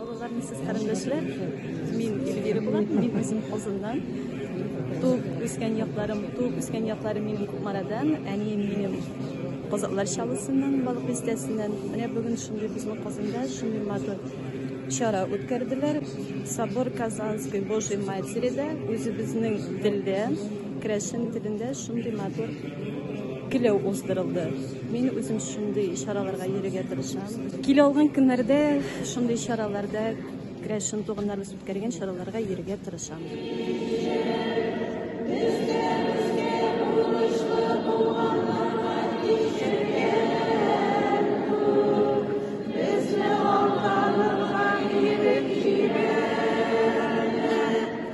Алларны сез карындашлар, мин Эльвира булам, мин үзем Казаннан. Туып үскән якларым, туып үскән якларым минем Кукмарадан, әнием минем Казаклар шалысыннан, Балык бистәсеннән. Менә бүген шундый безнең Казанда шундый матур чара үткәрделәр. Собор Казанской Божьей Матери да үзебезнең телдә, крәшен телендә шундый матур киләү уздырылды. Мин үзем шундый чараларга йөрергә тырышам. Килә алган көннәрдә шундый чараларда керәшен туганнарыбыз үткәргән чараларга йөрергә тырышам.